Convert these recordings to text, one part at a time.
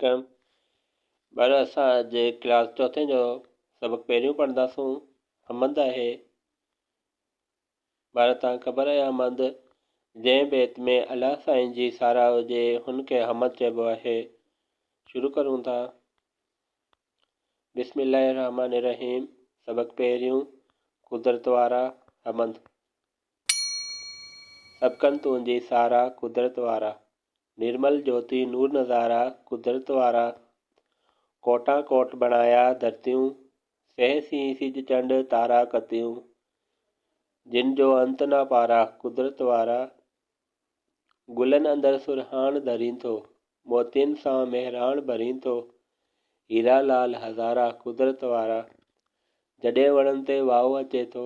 ڪيم ڀر اسان اڄ ڪلاس چوٿين جو سبق پهريون پڙهنداسون حمد آهي ڀر تان خبر آهي حمد جنهن بيت ۾ الله سائين جي ساراهه هجي هن کي حمد چئبو آهي شروع ڪرون ٿا بسم الله الرحمن الرحيم سبق پهريون قدرت وارا حمد سبقن تنهنجي سارا قدرت وارا نرمل جوتي نور نظارا قدرت وارا، ڪوٽان ڪوٽ بڻايا ڌرتيون، سهي سين سج چنڊ تارا ڪتيون، جن جو انت نه پارا قدرت وارا، گلن اندر سرهاڻ ڌرين ٿو، موتين سان مهراڻ ڀرين ٿو، هيرا لعل هزارا قدرت وارا، جڏهن وڻن تي واء اچي ٿو،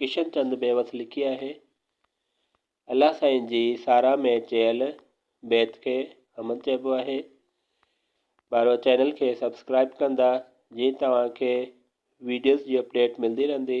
ڪشن چند بيوس لکي آهي. الله سائين جي ساراهه ۾ چيل بيت کي حمد چئبو آهي. ٻارو چينل کي سبسڪرائيب ڪندا جيئن توهان کي ويڊيوز جي اپڊيٽ ملدي رهندي.